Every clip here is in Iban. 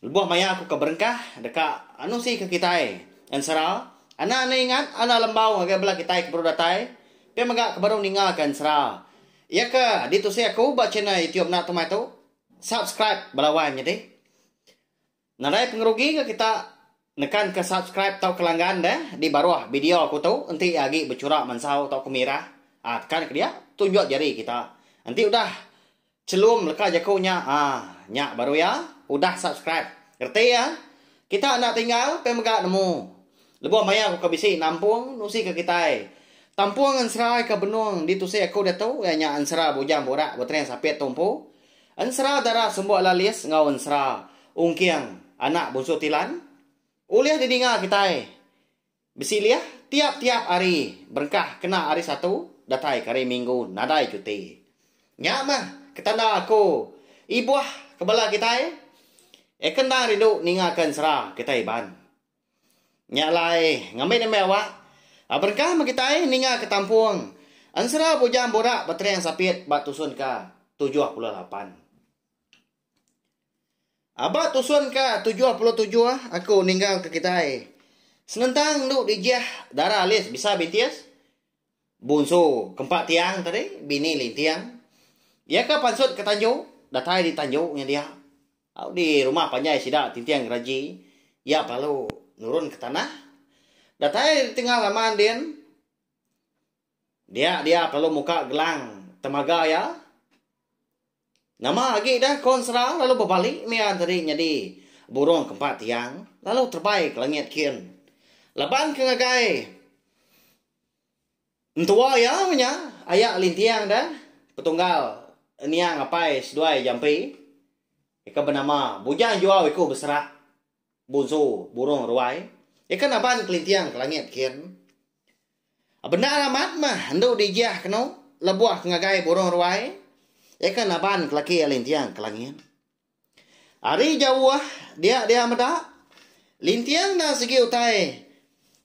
Lebuh maya aku ke berengkah deka anusi ke kitai, ensera, anak enda ingat anak lembau ngagai bela kitai ke baru datai, pia mega ke baru ninga ke ensera. Iya ke ditusi aku ba channel YouTube enda tumai tu, subscribe bala wai nyadi. Nadai pengerugi ke kita. Nekan ke subscribe tauka langgan deh di baruh bideo aku tu enti iya agi bechura mansau tauka mirah ah tekan ke dia tunjuk jari kita enti udah chelum leka jaku nya ah nya baru iya udah subscribe reti iya kita enda tinggal pia mega nemu lebuh maya aku ka bisi nampung nusi ka kitai tampung ensera ka benung ditusi aku diatu iya nya ensera bujang burak betereng sapit tu empu Ensera Dara Sembok Lalis enggau Ensera Ungking Anak Bunsu Tilan ulih didinga kitai besilih tiap-tiap hari berengkah kena Hari Satu datai ke hari Minggu nadai cuti. Nya mah ketanda aku ibuh ke bala kitai, eh ke endang rindu ninga ke ensera kitai iban. Nya alai, ngambi nembiak awak, berengkah meh kitai ninga ke tampung ensera bujang burak betering sapit ba tusun ke tujuh puluh lapan. Ba tusun ke tujuh puluh tujuh aku ninggalka kitai senentang endu dijih dara alis bisa bintis, bunsu ke empat tiang tadi, bini linting, iya ke pansut ke tanju, datai di tanju nya dia. Au di rumah panjai sida Tinting Geraji iya belalu nurun ke tanah. Datai ditingal lama ndin dia dia belalu muka gelang temaga iya. Nama agi dah Kon Sera lalu bebali mia enteri nyadi burung ke empat tiang lalu terebai ke langit kin laban ke ngagai. Entua iya nya aya linting da petunggal niang apai seduai jampi ika benama Bujang Juau iku beserak bunsu burung ruai ika naban kelinting ke langit kin. Bendar amat mah endu dijih kenu lebuh ke ngagai burung ruai ika naban ke laki linting ke langit. Ari jauh dia dia meda, linting nya sigi utai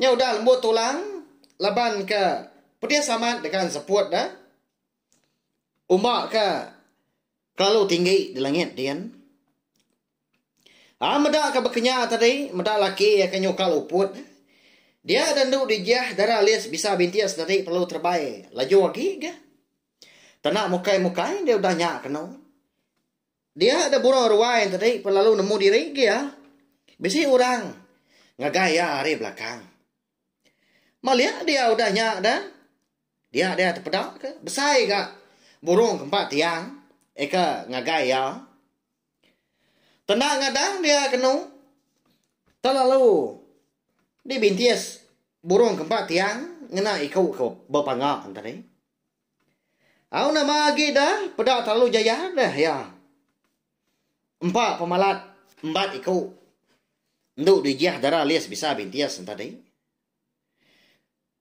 nya udah lembut tulang laban ke pedis amat dengan seput ne uma ke kelalu tinggi di langit din. Ai meda ke bekenya tadi meda laki ke nyukal uput ne dia ida enda dijah dara alis bisa bintik sedi perlu terebai laju agi ga tanda mukai mukai dia udah nya keno. Dia da burau ruai tadi pun lalu nemu diri gia. Bisi urang ngagai iya ari belakang. Malik dia udah nya da. Dia dia tepeda ke besai ga burung ke empat tiang eka ngagai iya. Tendang ngadang dia kenu telalu dibintis burung ke empat tiang ngena iku ke bepanga tadi. Au nama agi da peda terlalu jaya deh iya. Empa pemalat embat iku endu dijih dara list bisa bintis enta deh.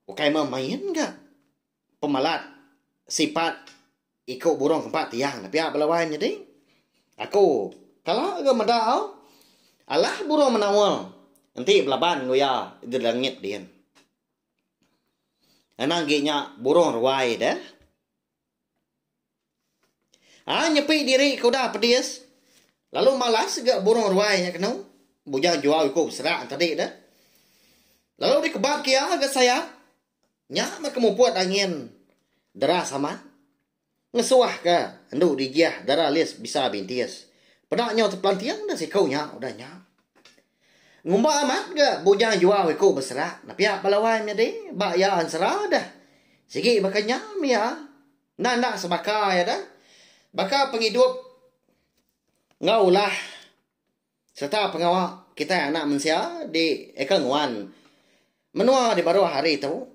Ukai meh main ga pemalat sipat iku burung kempa tiang da pia bala wai nyadi. Aku kala ga meda au alah burung menaul enti belaban enggau iya di langit din. Anang gi nya burung ruai deh. Ha nyepi diri ke udah pedis lalu malas ga burung ruai nya kenu bujang jual iku beserak tadi deh. Lalu dikebap ke iya ga sayap nya meh ke muput angin deras amat. Ngesuahka endu Digiah dara Lis bisa bintis. Peda nyau tepelanting dah siku nya udah nya. Ngumba amat ga Bujang Juau iku beserak nepiak bala wai menyadi ba iya ensera deh. Sigi baka nya mia enda enda sebaka iya deh. Baka pengidup enggau ulah sereta pengawa kitai anak mensia di eka nguan menua di baruh hari tu.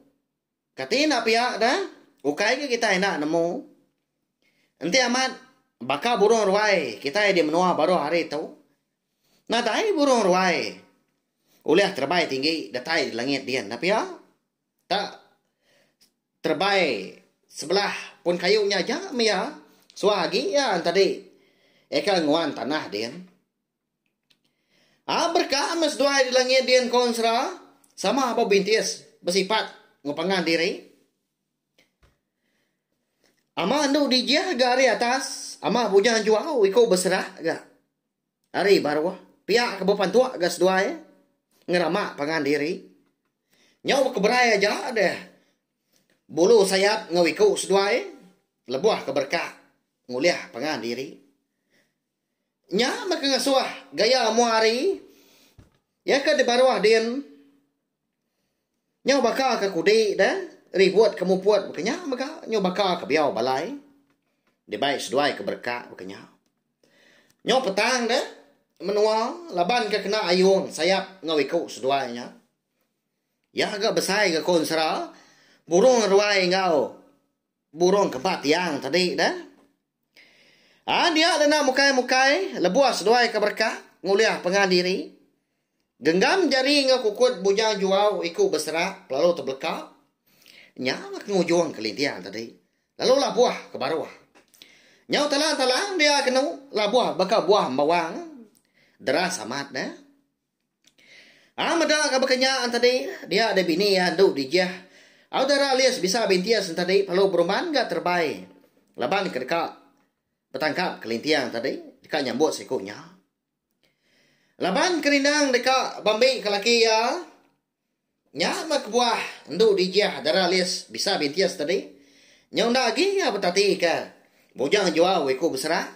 Kati enda pia da, ukai ke kitai enda nemu. Enti amat baka burung ruai kitai di menua baruh hari tu. Nadai burung ruai ulih terebai tinggi datai di langit dian enda pia. Ta terebai sebelah pun kayu nya aja mih iya suah agi iya enti adi eka nguan tanah dian. Aa berkah meh seduai di langit di engkau ensera sama ba bintis besipat enggau pangan diri. Ama endo dijah ga ari atas, ama bujang juau iko beserah ga ari baruh. Pia ke bepantuk ga seduai ngerama pangan diri. Nyau baka berai aja deh bulu sayap enggau iko seduai lebuh ke berkah ngulih pangan diri. Nya mega ngasuh gaya amu hari iya ke dibaruh din nyau baka ke kudi deh ribut ke muput baka nya mega nyau baka ke biau balai dibai seduai ke bereka baka nya. Nyau petang deh menua laban ke kena ayung sayap enggau iku seduai nya. Iya ga besai ga ku ensera burung ruai enggau burung kempa tiang tadi deh. Aa dia dena mukai-mukai lebuh seduai ke berkah ngulih pengah diri. Genggam jari enggau kukut bujang juau iku beserak lalu tebeleka. Nya la ke ngujung kelinting tadi. Lalu labuh ke baruh. Nyau talang-talang dia kenu labuh baka buah embawang. Deras amat neh. Aa meda ka baka nya entadi dia deh bini iya endu dijih. Au dara Alice bisa bintis entadi perlu berumban ga terebai laban ke deka betangkap kelinting entadi deka nyambut siku nya. Laban ke rindang deka ba mbi ke laki iya. Nya meh kebuah endu dijah dara Liz bisa bintis tadi. Nyau enda agi iya betatika Bujang Juau iku besera.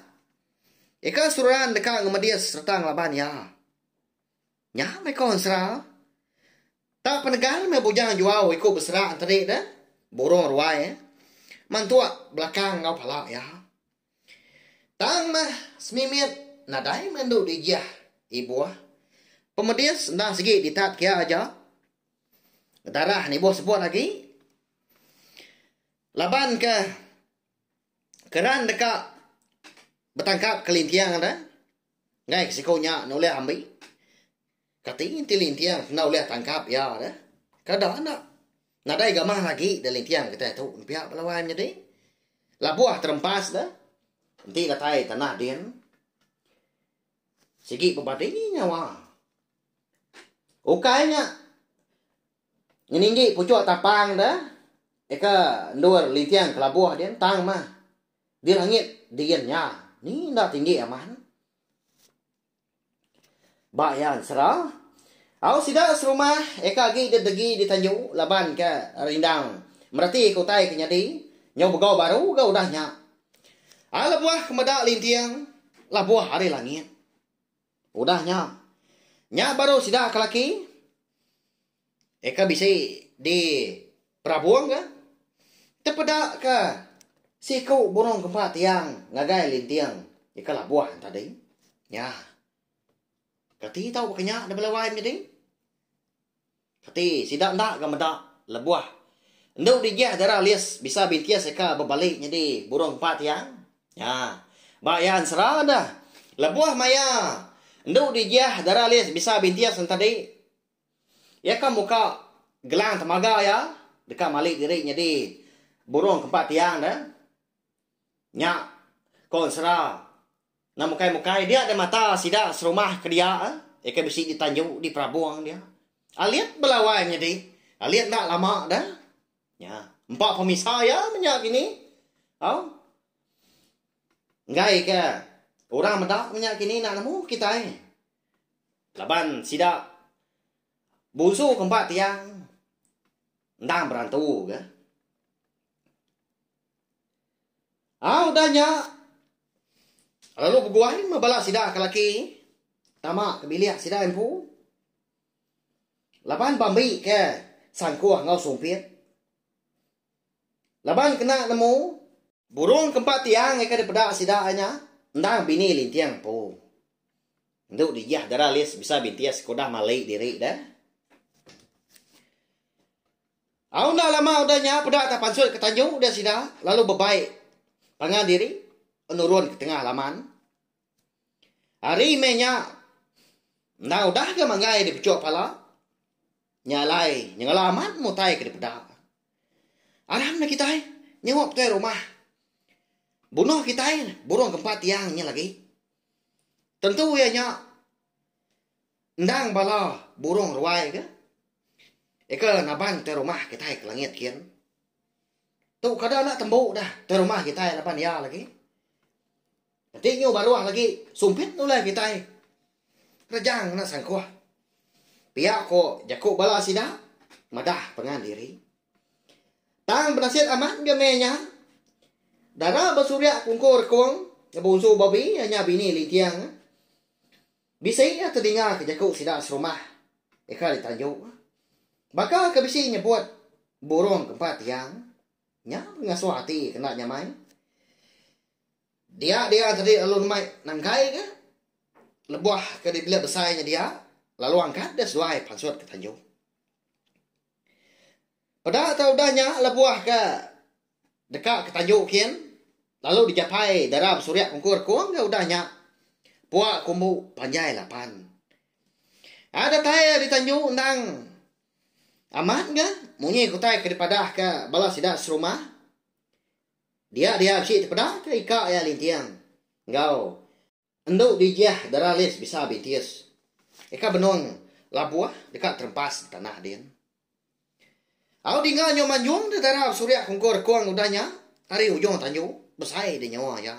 Ika seruran deka ngemedis sereta ngelaban iya. Nya meh ko ensera. Tak penegal meh Bujang Juau iku besera tadi deh, burung ruai mantuk belakang enggau pala iya. Tang mah semimit nadai meh endu digih ibuh. Pemedis enda sigi ditat kia aja. Darah nibuh sebut agi. Laban ke keran deka betangkap kelinting deh enggai siku nya nulih ambi. Kati enti linting enda ulih tangkap iya deh? Kada enda. Nadai gamah agi da linting kitai tu nempiak bala wai menyadi. Labuh terempas deh. Enti datai tanah din. Sigi bebadi nyawa. Ukai nya ngeninggi puchuk tapang deh. Eka endur linting ke labuh din tang mah di langit din nya. Ni enda tinggi aman. Ba iya ensera, au sida serumah eka agi didegi di Tanyu laban ke rindang meratika utai ke nyadi nyau begau baru ga udah nya. Ai lebuh ke meda linting labuh ari langit. Udah nya, nya baru sida ke laki. Eka bisi di Perabong ka tepeda ka siku burung kempa tiang ngagai linting eka labuh enta ding. Nya. Kati tau baka nya debela wai meh ding. Kati sida enda ga meda lebuh endu digih dara lis bisa bintis eka bebali nyadi burung kempa tiang. Nya. Ba iya ensera neh lebuh maya endu digih dara lis bisa bintis enta di. Iya ka muka gelang temaga iya deka mali diri nyadi burung ke empat tiang deh. Nya ko ensera enda mukai mukai dia deh mata sida serumah ke dia iya ke bisi di tanju di perabung dia. Alit bela wai nyadi alit enda lama deh. Nya empa pemisa iya meh nya kini au enggai ke orang meda meh nya kini enda nemu kitai Laban sida bunsu ke empat tiang endang berantu ke. Ah udah nya lalu beguai meh bala sida ke laki tama ke bilik sida empu. Laban bambi ke sangkuh enggau sumpit. Laban kena nemu. Burung ke empat ti angai ka dipeda sida ai nya endang bini linting empu. Endu dijah dara lis bisa bintis ke udah mali diri deh. Au enda lama udah nya peda ka pansut ke tanju deh sida lalu bebai pangan diri nurun ke tengah laman. Ari meh nya, enda udah ke manggai dipechok pala. Nya alai, nyengela amat mutai ke dipeda. Aram dah kitai nyewa petuai rumah. Bunoh kitai burung ke empat tiang nya lagi. Tentu iya nya endang bala burung ruai ke ika naban tuai rumah kitai ke langit kin. Tu kada enda tembu dah tuai rumah kitai laban iya lagi. Enti nyu baruh lagi sumpit nulai kitai rejang ngena sangkuh. Pia ko jaku bala sida madah pengan diri. Tang benasit amat ke meh nya. Dara besuria kungku rekung ngebunsu babi iya nya bini linting. Bisi iya tedinga ke jaku sida serumah ika ditanju. Baka ke bisi nyebut burung ke empat tiang. Nya pengasuh ati ke enda nyamai. Dia dia tadi lalu nemai nangkai ke lebuh ke di bilik besai nya dia lalu angkat dia seduai pansut ke tanjung. Peda tau udah nya lebuh ke deka ke tanjung kin lalu dijapai dara besurik kungkur kung ga udah nya pua ke umbu panjai lapan. Ai datai iya di tanjung endang amat ga munyi ke utai ke dipadah ka bala sida serumah. Dia dia bisi tepedaka ika iya linting enggau endu bijih dara list bisa bintis. Ika benung labuh deka terempas di tanah din. Au dinga nyu manjung da dara besurik kungkur rekung udah nya ari ujung tanju besai di nyawa iya.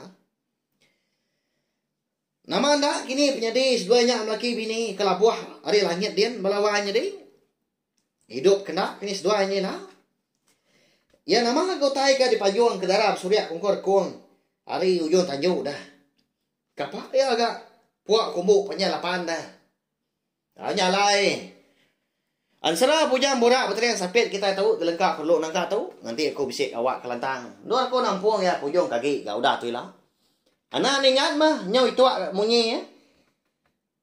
Nama enda kini penyadi seduai nya melaki bini ke labuh ari langit din bala wai nyadi. Idup kena ke ni seduai nyin ha. Iya nama ga utai ga dipanjung ke dara besurik kungkur kung ari ujung tanju dah. Kapa iya ga puak kumbu panjai lapan dah. Au nya alai. Ensera bujang burak betering sapit kitai tu gelengka perlu nangka tu nganti aku bisi awak kelantang. Endur aku nampung iya ke ujung kagi ga udah tu ila. Anak ningat mah nyau ituak munyi ya.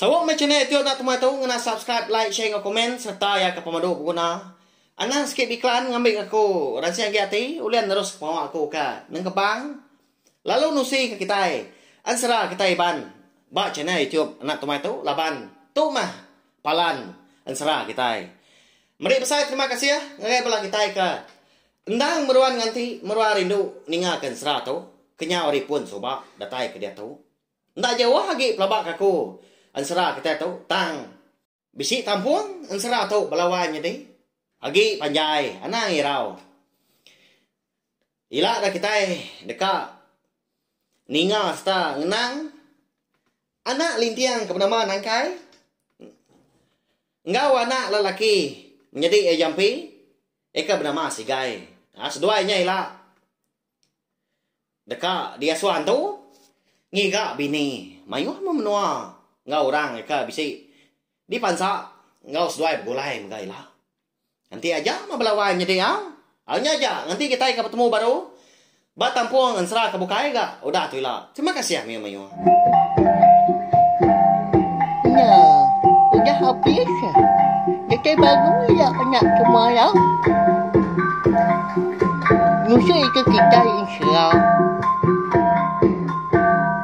Saut meh channel Etio enda temah tu ngena subscribe like share enggau komen sereta ya ke pemadu beguna. Anang sikit biklan ngambi ke aku ransing agi ati ulih neruska pengawa aku ka nengkebang lalu nusi ke kitai ensera kitai iban ba channel YouTube enda temah tu laban tu meh palan ensera kitai. Meri besai terima kasih ngagai bala kitai ke endang meruan nganti meruan rindu ninga ke ensera tu kenyau ari pun suba datai ke diatu. Enda jauh agi pelaba kaku ensera kitai tu tang bisi kampung ensera tu belawan nyadi agi panjai anang irau. Ila deh kitai deka ninga sereta ngenang anak linting ke benama Nangkai enggau anak lelaki menyadi iya jampi iya ke benama Sigai. Seduai nya ila Deka diasuh antu ngiga bini mayuh meh menua enggau orang deka bisi dipansa enggau seduai begulai mega ila. Enti aja meh bala wai nyadi iya, au nya aja nganti kitai ka betemu baru ba tampung ensera ke bukai ga udah tu ila. Terima kasih mayuh-mayuh. Nya, udah habis. Datai baru iya nya cuma lau. Ngusui ke kitai ensera.